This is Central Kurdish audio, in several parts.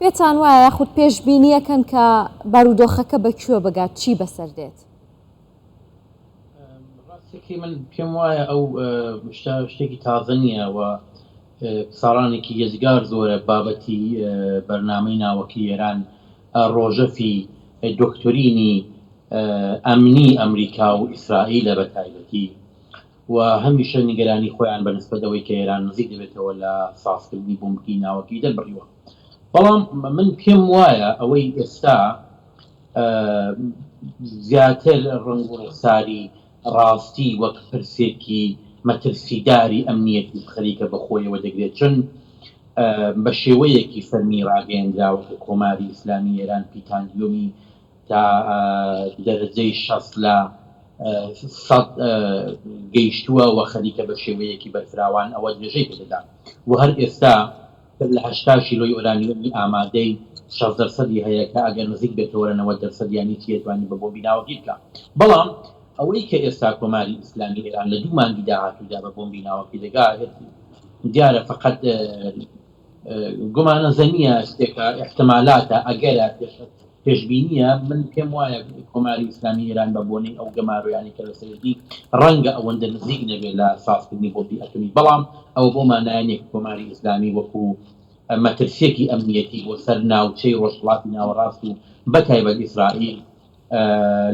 پێتان وایە یاخود پێشبینییەکەن کە بارودۆخەکە بە کوێ بگات، چی بەسەر دێت؟ ڕاستەکەی من پێم وایە ئەو شتە شتێکی تازە نییە و ساڵانێکی یەجگار زۆرە بابەتی بەرنامەی ناوەکی ئێران ڕۆژەفی دۆکتۆرینی ئەمنی ئەمریکا و ئیسرائیلە بە تایبەتی و هەمیشە نیگەرانی خۆیان بە نسبەت ئەوەی کە ئێران نزیک دەبێتەوە لە سازکردنی بۆمبی ناوەکی دەربڕیوە. بەڵام من پێم وایە ئەوەی ئێستا زیاتر ڕەنگ و ڕوخساری ڕاستی وەک پرسێکی مەترسیداری ئەمنیەتی خەریکە بە خۆیەوە دەگرێت، چون بە شێوەیەکی فەرمی ڕاگەیەندراوە کە کۆماری ئیسلامی ئێران پیتانگیۆمی تا دەرەجەی شەست لە سەد گەیشتووە و خەریکە بە شێوەیەکی بەرفراوان ئەوە درێژەی پێدەدا و هەر ئێستا تر لە هەشتا شیلۆی ئۆرانیۆمی ئامادەی شەست دەرسەدی هەیە کە ئەگەر نزیک بێتەوە لە نەوەد دەرسەدیانی چی ئەتوانی بە بۆمبی ناوەکی بکا بەڵام ئەوەی کە ئێستا کۆماری ئیسلامی ئێران لە دوو مانگی داهاتوودا بە بۆمبی ناوەکی دەگا دیارە فەقەت گومانە زەنیە شتێکە احتمالاتە ئەگەرە پێشببینیە من پێم وایە کۆماری ئسلامی ئێران بە بۆنەی ئەو گەمارۆیانی کە لە سەرێتی ڕەنگە ئەوەندە نزیک نەبێ لە سازکردنی بۆتی ئەتمی بەڵام ئەو بۆ مانایانێک کۆماری ئسلامی وەکو مەترسیەکی ئەمنیەتی بۆ سەر ناوچەی ڕۆژهڵاتی ناوەڕاست و بە تایبەت ئیسرائیل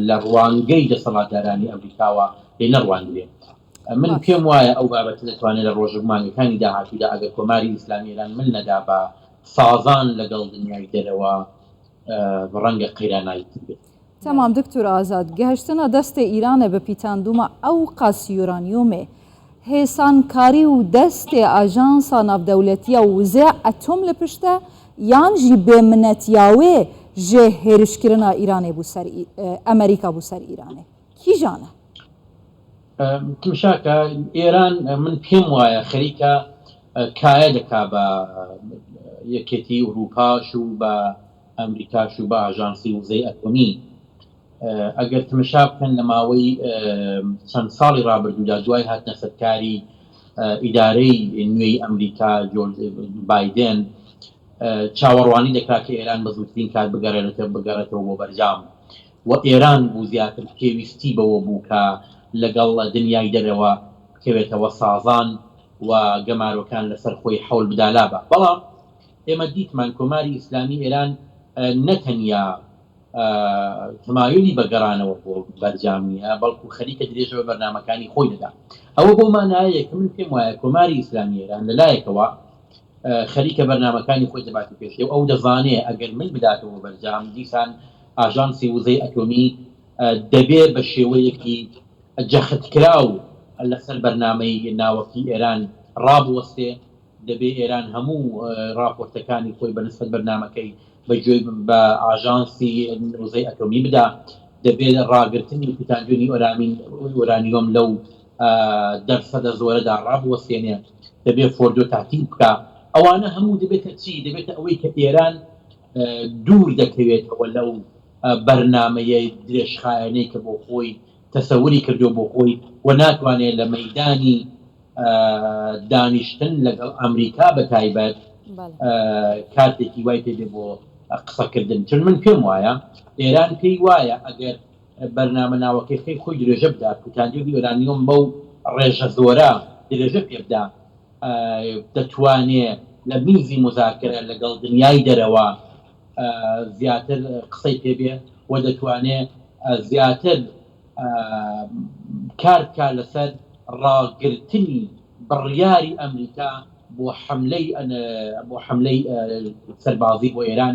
لە ڕوانگەی دەسەڵاتدارانی ئەمریکاوە لێ نەڕوانگرێت من پێم وایە ئەو بابەتە دەتوانێت لە ڕۆژە مانگەکانی داهاتوودا ئەگەر کۆماری ئیسلامی ئێران مل نەدا بە سازان لەگەڵ دنیای دەرەوە اه، ڕەنگە قەیرانای تر بێت تمام دکتور ئازاد، گهشتنە دەستێ ئیرانێ بە پیتاندوومە ئەو قەس یورانیۆمێ هێسان کاری و دەستێ ئاژانسا ناودەولەتیە و وزێ ئەتۆم لە پشتە یان ژی بێ منەتیاوێ ژێ هێرشکرنا ئیرانێ بوو سەر ئی- ئەمریکا بوو سەر ئیرانێ. کیژانە. تمشاکە ئێران من پێم وایە خەریکە کایە دەکا بە یەکێتی ئوروپاش و بە ئەمریکاش و بە ئاژانسی وزەی ئەتۆمی ئەگەر تمشا بکەن لە ماوەی چەند ساڵی رابرردوودا دوای هاتنە سەرکاری ئیدارەی نوێی ئەمریکا بادن چاوەڕوانی دەکات کە ئێران بە زووترین کات بگەڕێتە بگەڕێتەوە بۆ بەرجام و ئێران بوو زیاتر پێویستی بەوە بوو کە لەگەڵ دنیای دەرەوە بکەوێتەوە سازان و گەمارۆکان لەسەر خۆی حەول بدا لا با بەڵام ئێمە دیتمان کۆماری ئیسلامی ئێران نە تەنیا تمایلی بە گەڕانەوە بۆ بەرجام نییە بەڵکو خەریکە درێژە بە بەرنامەکانی خۆی دەدا ئەوە بۆ مانایەیە کە من پێم وایە کۆماری ئیسلامی ئێران لەلایەکەوە خەریکە بەرنامەکانی خۆی دەباتە پێشێ و ئەو دەزانێ ئەگەر مل بداتەوە بەرجام دیسان ئاژانسی وزەی ئەتۆمی دەبێ بە شێوەیەکی جەختکراو لەسەر بەرنامەی ناوەکی ئێران ڕابوەستێ دەبێ ئێران هەموو ڕاپۆرتەکانی خۆی بەنسبەت بەرنامەکەی بە گوێی بە ئاژانسی وزەی ئەتۆمی بدا دەبێت ڕاگرتنی کوتاندنی ئۆرامین ئۆرانیۆم لەو دەرسەدە زۆرەدا ڕابوەستێنێ دەبێت فۆردۆ تاقی بکا ئەوانە هەموو دەبێتە چی دەبێتە ئەوەی کە ئێران دوور دەکەوێتەوە لەو بەرنمەیە درێژخایەنەی کە بۆ خۆی تەسەوری کردو بۆ خۆی و ناتوانێت لە مەدانی دانیشتن لەگەڵ ئەمریکا بە تایبەت کاتێکی وای پێ بۆ قسەکردن چون من پێم وایە ئێران پێی وایە ئەگەر بەرنامە ناوەکەیخەی خۆی درێژە بدا کوتانیۆ بی ئۆرانیۆم بەو ڕێژە زۆرە درێژە پێ بدا دەتوانێ لە میزی مزاکرە لەگەڵ دنیای دەرەوە زیاتر قسەی پێبێ و دەتوانێ زیاتر کارکە لەسەر ڕاگرتنی بڕیاری ئەمریکا بۆ حملەی بۆ حملەی سەربازی بۆ ئێران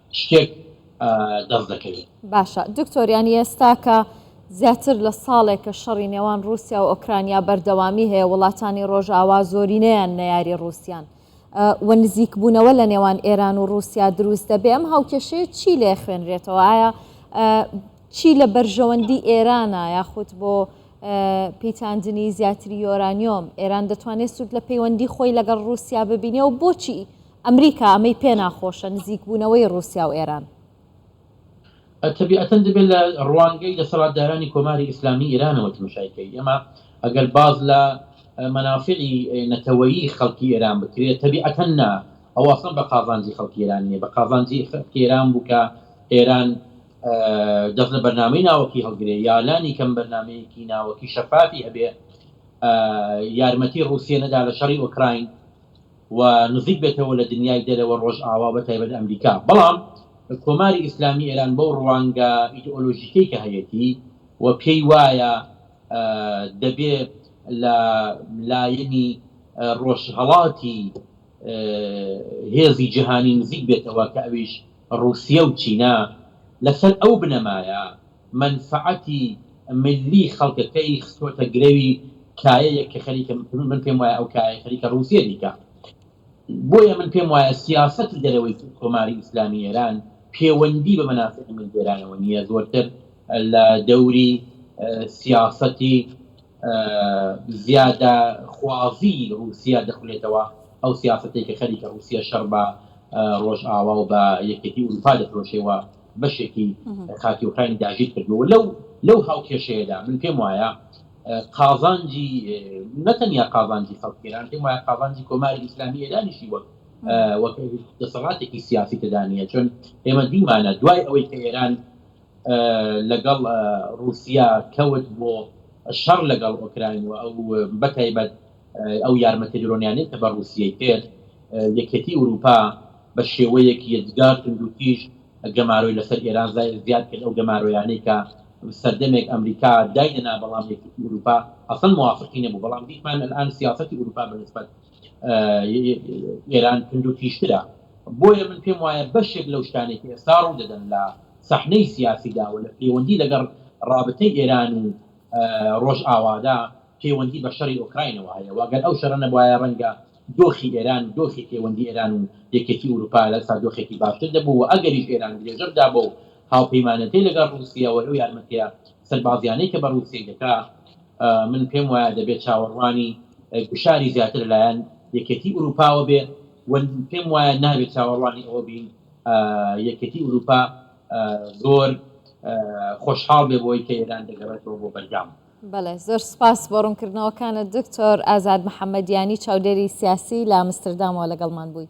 شتێک دەست دەکەوێت. باشە دکتۆر یانی ئێستا کە زیاتر لە ساڵێکە شەڕی نێوان رووسیا و ئۆکرانیا بەردەوامی هەیە وڵاتانی ڕۆژاوا زۆرینەیان نەیاری رووسیان و نزیکبوونەوە لە نێوان ئێران و رووسیا دروست دەبێ ئەم هاوکێشەیە چی لێ خوێنرێتەوە ئایا چی لە بەرژەوەندی ئێرانە یاخود بۆ پیتاندنی زیاتری یۆرانیۆم ئێران دەتوانێت سوود لە پەیوەندی خۆی لەگەڵ رووسیا ببینێ و بۆچی ئەمریکا ئەمەی پێ ناخۆشە، نزیکبوونەوەی ڕووسیا و ئێران. تەبیعەتەن دەبێ لە ڕوانگەی دەسەڵاتدارانی کۆماری ئیسلامیی ئێرانەوە تمشای کەی. ئەمە ئەگەر باس لە مەنافعی نەتەوەیی خەڵکی ئێران بکرێ، تەبیعەتەن نا، ئەوە ئەسڵەن بە قازانجی خەڵکی ئێران نییە. بە قازانجی خەڵکی ئێران بوو کە ئێران دەست لە بەرنامەی ناوەکی هەڵگرێ یا لانیکەم بەرنامەیەکی ناوەکی شەفافی هەبێ یارمەتی ڕووسیە نەدا لە شەڕی ئۆکراین. و نزیک بێتەوە لە دنیای دەرەوە ڕۆژئاوا بە تایبەت ئەمریکا بەڵام کۆماری ئیسلامی ئێران بەو ڕوانگە ئیدئۆلۆژیکەی کە هەیەتی و پێی وایە دەبێ لە لایەنی ڕۆژهەڵاتی هێزی جیهانی نزیک بێتەوە کە ئەویش ڕووسیە و چینە لەسەر ئەو بنەمایە مەنفەعەتی ملی خەڵکەکەی خستۆتە گرەوی کایەیەک کە خەریکە من پێم وایە ئەو کایەیە خەریکە ڕووسیە بیکا بۆیە من پێم وایە سیاسەتی دەرەوەی کۆماری ئیسلامی ئێران پێوەندی بە مەنافعی ملی ئێرانەوە نییە زۆرتر لە دەوری سیاسەتی زیادە خوازی ڕووسیا دەخولێتەوە ئەو سیاسەتێک کە خەریکە ڕووسیە شەڕ بە ڕۆژئاوا و بە یەکێتی ئوروپا دەفرۆشێەوە بەشێکی خاکی ئۆکراینی داگیر کردووە و لەو لەو هاوکێشەیەدا من پێم وایە قازانجی نەتەنیا قازانجی خەڵکی ئێران پێم وایە قازانجی کۆماری ئیسلامی ئێرانیشی وەک وەک دەسەڵاتێکی سیاسی تدانە چۆن ئێمە دیمانە دوای ئەوەی کە ئێران لەگەڵ رووسیا کەوت بۆ شەڕ لەگەڵ ئۆکراین و ئەو بەتایبەت ئەو یارمەتیە درۆنیانەی کە بە ڕوسیەی کرد یەکێتی ئوروپا بە شێوەیەک یەجگار توندوتیژ گەمارۆی لەسەر ئێران زیاد کرد ئەو گەمارۆیانەی کە سەردەمێک ئەمریکا دایدەنا بەڵام یەکێتی ئوروپا ئەسڵەن موافقی نەبوو بەڵام دیتمان الان سیاسەتی ئوروپا بە نسبەت ئێران توندوتیژترە بۆیە من پێم وایە بەشێک لەو شتانێک ئێستا ڕوو دەدەن لە سەحنەی سیاسیداوە لە پەیوەندی لەگەڵ ڕابتەی ئێران و ڕۆژ ئاوادا پەیوەندی بە شەڕی ئۆکراینەوە هەیە و گەر ئەو شەڕە نەبوایە ڕەنگە دۆخی ئێران و دۆخی پەیوەندی ئێران و یەکێتی ئورووپا لە ئێستا دۆخێکی باشتر دەبوو و ئەگەریش ئێران درێژە بدا بەو هاوپەیمانێتەی لەگەڵ ڕووسیە و ئەو یارمەتیە سەربازیانەی کە بە ڕووسیەی دەکا من پێم وایە دەبێ چاوەڕوانی گوشاری زیاتر لەلایەن یەکێتی ئورووپاوە بێ و پێم وایە نابێت چاوەڕوانی ئەوە بین یەکێتی ئورووپا زۆر خۆشحاڵ بێ بۆی کە ئێران دەگەڕێتەوە بۆ بەرجام بەڵێ زۆر سوپاس بۆ ڕوونکردنەوەکانت دکتۆر ئازاد محەمەدیانی چاودێری سیاسی لە ئامستردامەوە لەگەڵمان بووی.